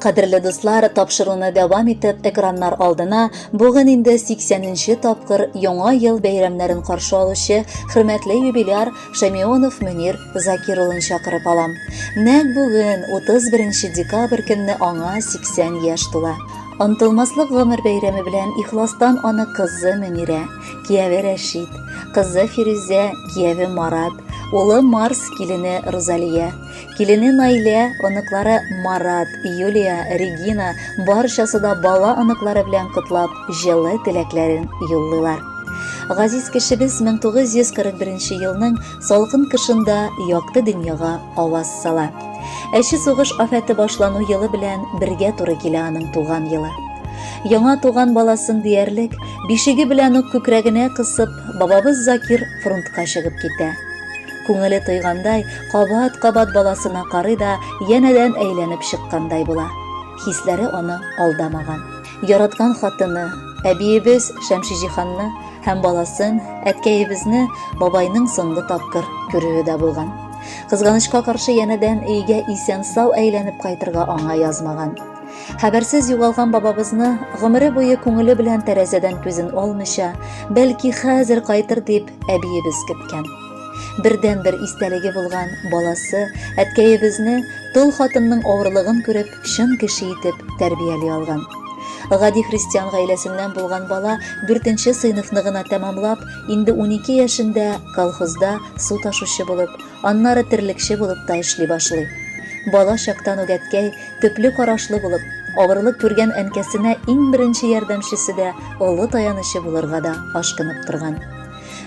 Кадерле дуслар, тапшыруны дәвам итеп экраннар алдына бүген инде 80-нче тапкыр яңа ел бәйрәмнәрен каршы алучы хөрмәтле юбиляр Шамионов Мөнир Закир улын чакырып алам. Нәкъ бүген 31 декабрь көнне аңа 80 яшь тула. Антылмаслык гомер бәйрәме белән ихластан аны кызы Мөнирә, кияве Рәшид, кызы Фирүзә, кияве Марат, улы Марс, килене Розалия, Килене Наилә, оныклары Марат, Юлия, Регина барчасы да бала оныклары белән котлап, җылы теләкләрен юллыйлар. Газиз кешебез 1941 елның салкын кышында якты дөньяга аваз сала. Әче сугыш афәте башлану елы белән бергә туры килә аның туган елы яңа туган баласын диярлек бишеге белән үк күкрәгенә кысып бабабыз закир фронтка чыгып китә Күңеле тойгандай, кабат-кабат баласына карый да, янәдән әйләнеп чыккандай була. Хисләре аны алдамаган. Яраткан хатыны, әбиебез Шәмшиҗиһанны һәм баласын, әткәебезне бабайның соңгы тапкыр күрүе дә булган. Кызганычка каршы янәдән өйгә исән-сау әйләнеп кайтырга аңа язмаган. Хәбәрсез югалган бабабызны гомере буе күңеле белән тәрәзәдән күзен алмыйча, бәлки хәзер кайтыр дип, әбиебез көткән. Бердәнбер истәлеге булган баласы әткәебезне тол хатынның авырлыгын күреп, чын кеше итеп тәрбияли алган. Гади христиан гаиләсеннән булган бала дүртенче сыйныфны гына тәмамлап, инде 12 яшендә колхозда су ташучы булып, аннары терлекче булып та эшли башлый. Бала чактан ук әткәй төпле карашлы булып, авырлык күргән әнкәсенә иң беренче ярдәмчесе дә, олы таянычы булырга да ашкынып торган.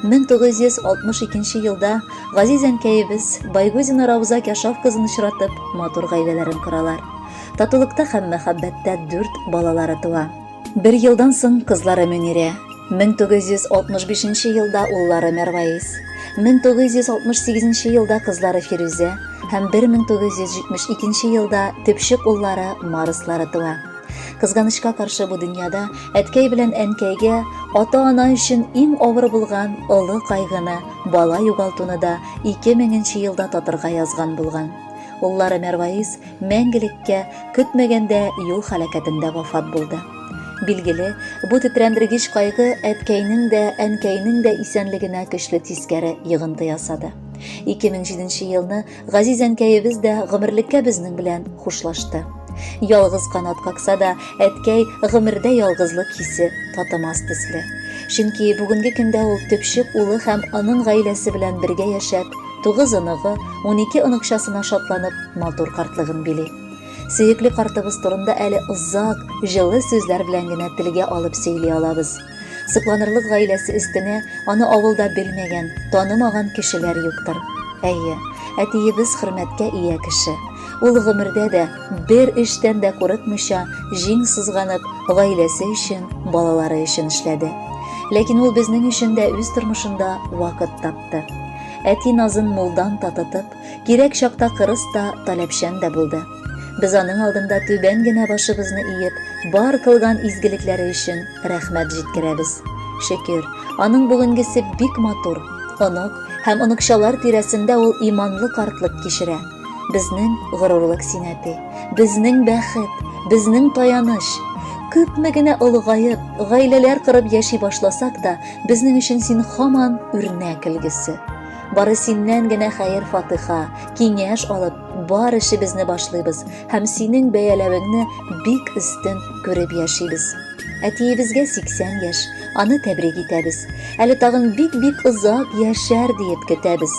1962 елда газиз әнкәебез Байгузина Рауза Кяшав кызын очратып, матур гаиләләрен коралар. Татулыкта һәм мәхәббәттә дүрт балалары туа. Бер елдан соң кызлары Мөнирә, 1965 елда уллары Мәрваис, 1968 елда кызлары Фирүзә һәм 1972 елда төпчек уллары Марыслары туа. Кызганычка каршы бу дөньяда Әткәй белән әнкәйгә ата-ана өчен иң авыр булган олы кайгыны, бала югалтуны да 2000 нче елда татырга язган булган. Уллары Мәрваис мәңгелеккә көтмәгәндә юл халәкәтендә вафат булды. Билгеле, бу тетрәндергеч кайгы әткәйнең дә, әнкәйнең дә исәнлегенә көчле тискәре йогынты ясады. 2007 елны Газиз әнкәебез дә гомерлеккә безнең белән хушлашты. Ялгыз канат какса да, әткәй гомердә ялгызлык хисе татымас төсле. Чөнки бүгенге көндә ул төпчек улы һәм аның гаиләсе белән бергә яшәп, тугыз оныгы, унике оныкчасына шатланып, матур картлыгын били. Сөекле картыбыз турында әле озак, җылы сүзләр белән генә телгә алып сөйли алабыз. Сокланырлык гаиләсе өстенә аны авылда белмәгән, танымаган кешеләр юктыр. Әйе, әтиебез хөрмәткә ия кеше. Ул гомердә дә бер эштән дә курыкмыйча, җиң сызганып, гаиләсе өчен, балалары өчен эшләде. Ләкин ул безнең өчен дә үз тормышында вакыт тапты. Әти назын мулдан татытып, кирәк чакта кырыс та, таләпчән дә булды. Без аның алдында түбән генә башыбызны иеп, бар кылган изгелекләре өчен рәхмәт җиткерәбез. Шөкер, аның бүгенгесе бик матур. Онык һәм оныкчалар тирәсендә ул иманлы картлык кичерә. Безнең горурлык син, әти. Безнең бәхет, безнең таяныч. Күпме генә олыгаеп, гаиләләр корып яши башласак та, безнең өчен син һаман үрнәк өлгесе. Бары синнән генә хәер-фатыха, киңәш алып, Бар эшебезне башлыйбыз һәм синең бәяләвеңне бик өстен күреп яшибез. Әтиебезгә 80 яшь, аны тәбрик итәбез. Әле тагын бик-бик озак яшәр диеп көтәбез.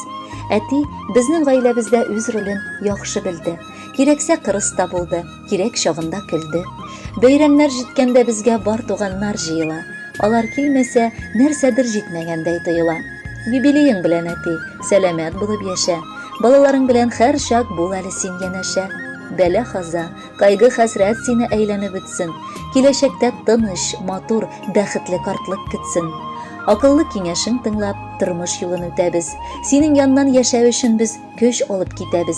Әти безнең гаиләбездә үз ролен яхшы белде. Кирәксә кырыс та булды. Кирәк чагында көлде. Бәйрәмнәр җиткәндә безгә бар туганнар җыела. Алар килмәсә, нәрсәдер җитмәгәндәй тоела. Юбилеең белән, әти, сәламәт булып яшә. Балаларың белән һәрчак бул әле син янәшә. Бәла-каза, кайгы-хәсрәт сине әйләнеп үтсен. Киләчәктә тыныч, матур, бәхетле картлык көтсен. Акыллы киңәшең тыңлап, тормыш юлын үтәбез. Синең яннан яшәү өчен без көч алып китәбез.